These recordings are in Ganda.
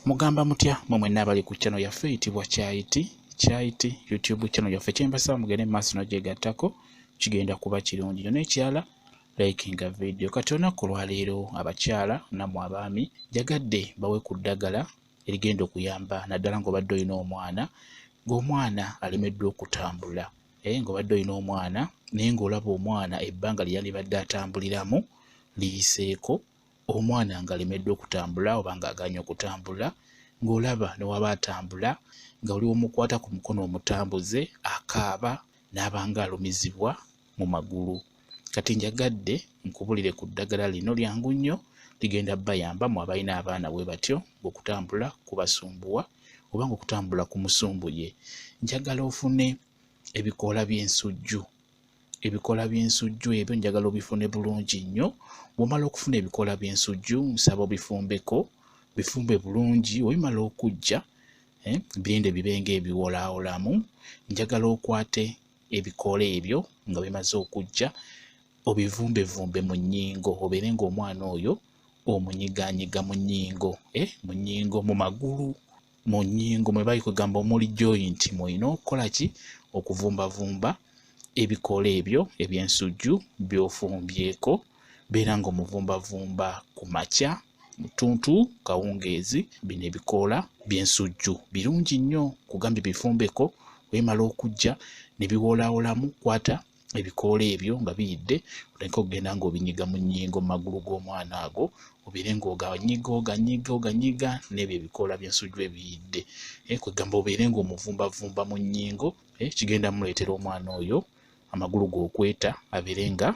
mugamba mutya mwe mwenna abali ku channel yaffe eyitibwa kyayiti kyayiti youtube channel yaffe kyembasaba mugende mu maaso nogyegattako kigenda kuba kirungi nyo n'ekirala likinga vidiyo kati olunaku olwaleero abakyala namwe abaami njagadde bawe ku ddagala erigenda okuyamba naddala ng'obadde olina omwana ng'omwana alemeddwa okutambula naye ng'obadde olina omwana naye ng'olaba omwana ebbanga lyeyandibadde atambuliramu liyiseeko omwana ngalemeddwa okutambula oba ng'agaanye okutambula ng'olaba ne waba atambula nga oli omukwata ku mukono omutambuze akaaba n'abanga alumizibwa mu magulu kati njagadde nkubulire ku ddagala lino lyangu nnyo ligenda bayamba mu abalina abaana bwe batyo ng'okutambula kubasumbuwa oba ng'okutambula ku musumbuye njagala ofune ebikoola by'ensujju ebikola by'ensujju ebyo njagala obifune bulungi nnyo bw'omala okufuna ebikola by'ensujju nsaba obifumbeko bifumbe bulungi webimala okujja eh, birinde bibe ng'ebiwolaawolamu njagala okwate ebikoola ebyo nga bimaze okujja obivumbevumbe mu nnyingo obeere ng'omwana oyo omunyiganyiga mu nnyingo eh, mu nnyingo mu magulu mu nnyingo mwe bali kwegamba omuli joint mwolina okukola ki okuvumbavumba ebikoola ebyo eby'ensujju by'ofumbyeko beera ng'omuvumbavumba ku makya mutuntu kawungeezi bino ebikoola by'ensujju birungi nnyo kugambye bifumbeko wemala okujja ne biwoolaawolamu kwata ebikoola ebyo nga biyidde oleke okugenda ng'obinyiga mu nnyingo mu magulu g'omwana ago obeere ng'oganyiga oganyiga oganyiga n'ebyo ebikoola by'ensujju ebiyidde eh, kwegamba obeere ng'omuvumbavumba mu nnyingo eh, kigenda muleetera omwana oyo amagulu g'okweta abeere nga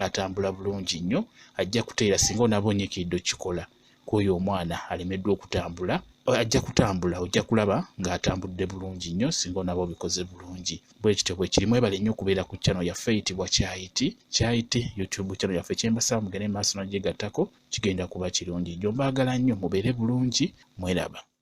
atambula bulungi nnyo ajja kuteera singa onaaba onyikiidde okikola kwoyo omwana alemeddwa okutambula ajja kutambula ojja kulaba ng'atambudde bulungi nnyo singa onaba obikoze bulungi bwe kityo bwe kirimu ebale nnyo okubeera ku channel yaffe eyitibwa kyayiti kyayiti youtube channel yaffe kyembasaba mugende mu maaso n'ogyegattako kigenda kuba kirungi gyo mbaagala nnyo mubeere bulungi mweraba